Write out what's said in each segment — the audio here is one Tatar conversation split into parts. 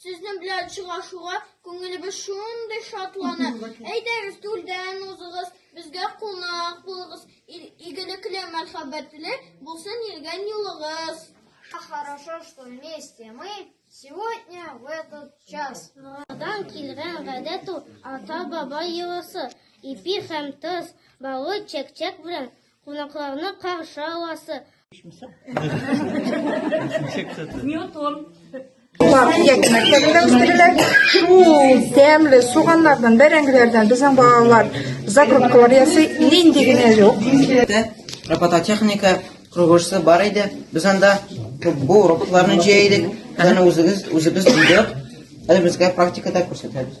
Сезнең белән очрашуга күңелебез шундый шатлана. Әйдәгез, түрдән узыгыз, безгә кунак булыгыз. Игелекле, мәхәббәтле булсын йөргән юлыгыз. Хорошо, что вместе мы сегодня в этот час. Модан килгән гадәт ул ата-баба йоласы. Ипи һәм тоз, баллы чәк-чәк белән Кунакларны каршы аласы. Ньютон. Алар яки мәктәбендә үстерелә. Шул тәмле суганнардан, бәрәңгеләрдән безнең балалар закруткалар ясый. Нинди генә юк. Робототехника кругошсы бар иде. Без анда бу роботларны җәйдек. Аны үзебез үзебез җыйдык. Әле безгә практикада күрсәтәбез.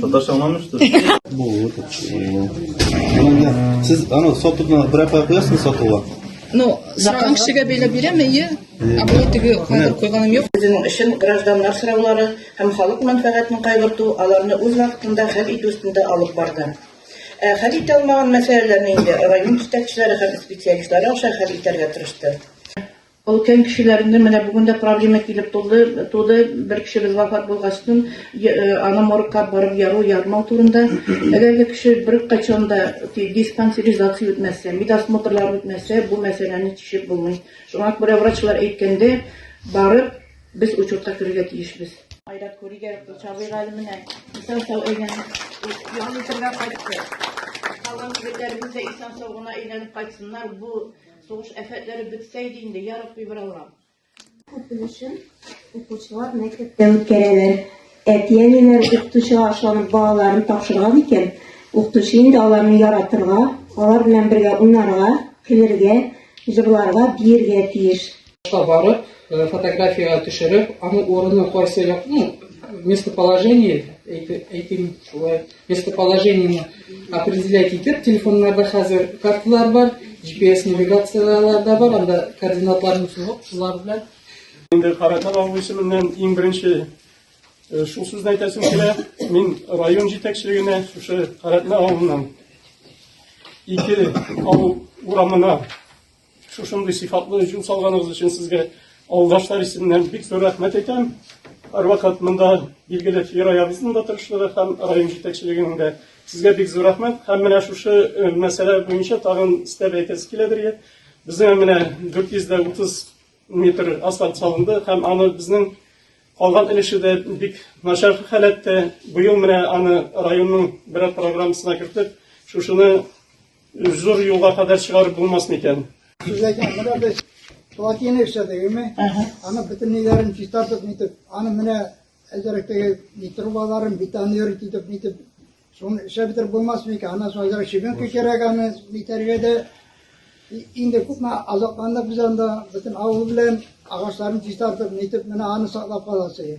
Татарча аңламыштыр. Булыр. Сез аны сатуны бер апа куясыз сатуга? Ну, саткан кешегә бәйләп бирәм, әйе. Ә бу теге кадәр куйганым юк. Үзенең эшен гражданнар сораулары һәм халык мәнфәгатен кайгырту, аларны үз вакытында хәл итү өстендә алып барды. Ә хәл итә алмаган мәсьәләләрне инде район җитәкчеләре һәм специалистлары аша хәл итәргә тырышты. Өлкән кешеләрне менә бүген дә проблема килеп тулды, туды, бер кешебез вафат булгачтын, аны моргка барып яру, ярмау турында. Әгәр дә кеше бер качан да диспансеризация үтмәсә, медосмотрлар үтмәсә, бу мәсьәләне чишеп булмый. Шуңа күрә врачлар әйткәндә, барып, без учетка керергә тиешбез. Айрат Күригә, Чабыйга әле менә исән-сау әйләнеп, ял итәргә кайтты. Калган егетләребез дә исән-сау гына әйләнеп кайтсыннар, бу Сугыш афәтләре бетсә иде инде, я Рабби бер Аллам. Күп өлешен укучылар мәктәптә үткәрәләр. Әти-әниләр укытучыга ашланып балаларын тапшырган икән, укытучы инде аларны яратырга, алар белән бергә уйнарга, көлергә, җырларга, биергә тиеш. барып, э, фотография төшереп, аны урыны кайсы як, ну, местоположение, әйтим шулай, местоположение определять итеп, телефоннарда хәзер карталар бар, GPS навигацияләр дә бар, анда координатларны сузып, шулар белән. Инде Каратал авыл исеменнән иң беренче э, шул сүзне әйтәсем килә. Мин район җитәкчелегенә шушы Каратал авылыннан ике авыл урамына Шушындый сыйфатлы җил салганыгыз өчен сезгә авылдашлар исеменнән бик зур рәхмәт әйтәм. Һәрвакыт монда билгеле Фираябызның да тырышлыгы һәм район җитәкчелегенең дә сезгә бик зур рәхмәт. Һәм менә шушы э, мәсьәлә буенча тагын өстәп әйтәсе киләдер. Безнең менә 430 метр асфальт салынды һәм аны безнең калган өлеше дә бик начар халәттә. Быел менә аны районның берәр программасына кертеп, шушыны Зур юлга кадәр чыгарып булмас микән? Күзләгән менә без плотина эшләдегеме? Аны бөтен ниләрен чистартып нитеп, аны менә әзерәктәге ни трубаларын бетон йөрит итеп нитеп, шуны эшләп бетереп булмас микән? Аннан соң әзерәк щебенка кирәк аны нитәргә дә. И- Инде күпме азапландык без анда, бөтен авыл белән агачларын чистартып нитеп, менә аны саклап каласы.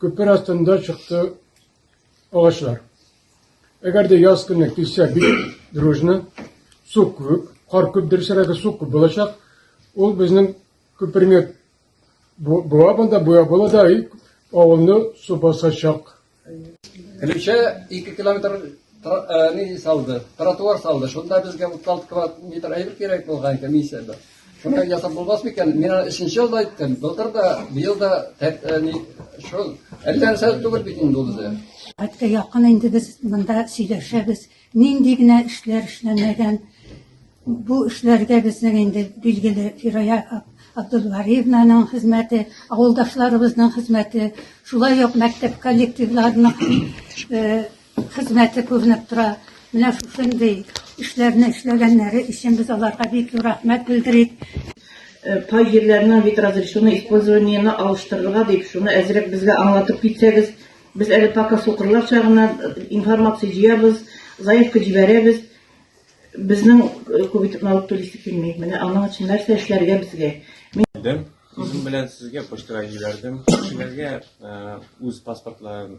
Күпер астында чыкты агачлар. Әгәр дә яз көне килсә бик дружно, су күп, кар күп, дөресрәге су күп булачак. Ул безнең күперне буа бында буя була да и авылны су басачак. Өлешә 2 километр ни салды, тротуар салды. Шунда безгә 36 квадрат метр әйбер кирәк булган комиссияда. Шуны ясап булмас микән? Мин аны өченче елда әйттем. Былтыр да, быел да тәртәни шул. Әллә нәрсә түгел бит инде ул үзе. Хәтта якын инде без монда сөйләшәбез. Нинди генә эшләр эшләнмәгән. Бу эшләргә безнең инде билгеле Фирая Абдулвариевнаның хезмәте, авылдашларыбызның хезмәте, шулай ук мәктәп коллективларының э, Хезмәте күренеп тора. Менә шушындый эшләрне эшләгәннәре өчен без аларга бик зур рәхмәт белдерик. Кай җирләрнең вид разрешено использованиене алыштырырга дип, шуны әзрәк безгә аңлатып китсәгез. Без әле пока сукырларча гына информация җыябыз, заявка җибәрәбез. Безнең күп итеп налог түлисе килми. Менә аның өчен нәрсә эшләргә безгә? Үзем белән сезгә почтага җибәрдем. Кешеләргә үз паспортларын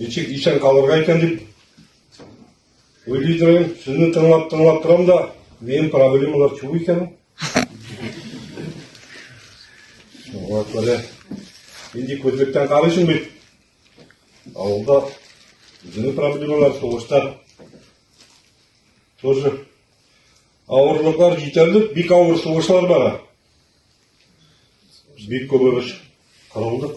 Ничек исән калырга икән дип уйлый торам. Сезне тыңлап, тыңлап торам да, минем проблемалар чу икән. Шуңа күрә инде күзлектән карыйсың бит. Авылда үзенең проблемалар, сугыштар тоже авырлыклар җитәрлек, бик авыр сугышлар бара. Бик күп ырыш кырылдык.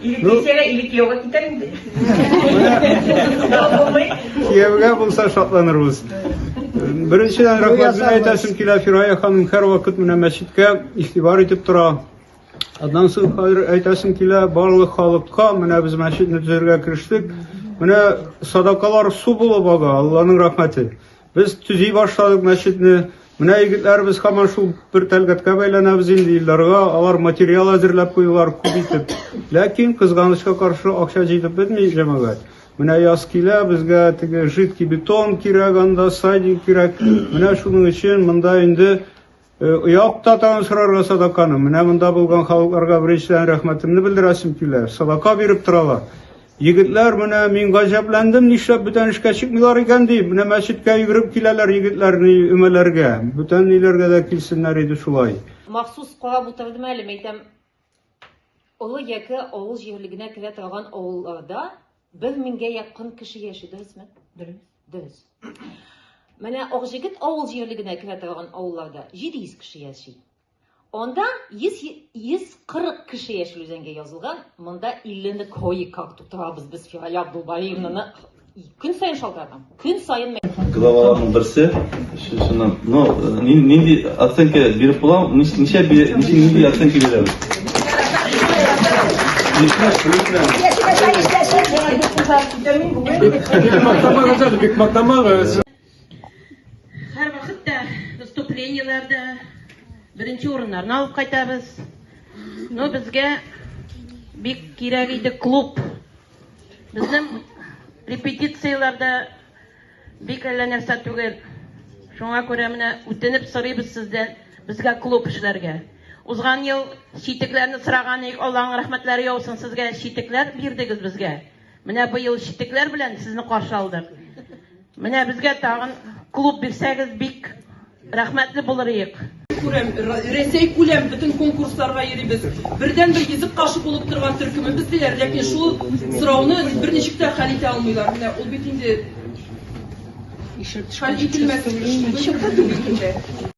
Или ну, кисәгә, или кияүгә китәр инде. Кияүгә булса шатланырбыз. Беренчедән рәхмәт әйтәсем килә Фирая ханым һәр вакыт менә мәчеткә игътибар итеп тора. Аннан соң хәзер әйтәсем килә барлык халыкка менә без мәчетне төзергә керештек. Менә садакалар су булып ага, Алланың рәхмәте. Без төзи башладык мәчетне. Менә егетләребез һаман шул бер тәлгатькә бәйләнәбез инде Илдарга. Алар материал әзерләп куйдылар күп итеп. Ләкин кызганычка каршы акча җитеп бетми, җәмәгать. Менә яз килә, безгә теге жидкий бетон кирәк анда, сайдинг кирәк. Менә шуның өчен монда инде Якта тагын сорарга садаканы. Менә монда булган халыкларга беренчедән рәхмәтемне белдерәсем килә. Садака биреп торалар. Егетләр менә мин гаҗәпләндем, нишләп бүтән эшкә чыкмыйлар икән дип. Менә мәчеткә йөгереп киләләр егетләр ни өмәләргә. Бүтән ниләргә дә килсеннәр иде шулай. Махсус карап утырдым әле, мәйтәм, олы яке авыл җирлегенә керә торган авылларда бер меңгә якын кеше яши, дөресме? Дөрес. Дөрес. Менә Акҗигет авыл җирлегенә керә торган авылларда 700 кеше яши. Анда 100 140 кеше яши үзәнгә язылган. Монда 50 ны кое как тутырабыз без Фирая Абдулбаевнаны көн саен шалтыратам. Көн саен главаларның берсе Шуннан, ну, нинди оценка биреп була? Ничә бирә, нинди оценка бирә? Бик матамагыз. выступлениеләрдә беренче урыннарны алып кайтабыз. Но безгә бик кирәк иде клуб. Безнең репетицияләрдә Бик әллә нәрсә түгел. Шуңа күрә менә үтенеп сорыйбыз сездән безгә клуб эшләргә. Узган ел читекләрне сораган идек, Алланың рәхмәтләре яусын сезгә, читекләр бирдегез безгә. Менә быел читекләр белән сезне каршы алдык. Менә безгә тагын клуб бирсәгез бик Рәхмәтле булырыйк. Күрәм, Рәсәй күләм бөтен конкурсларга йөрибез. Бердәнбер йөзек кашы булып торган төркемебез диләр, ләкин шул сорауны берничек тә хәл итә алмыйлар. Менә ул бит инде хәл ителмәс эш.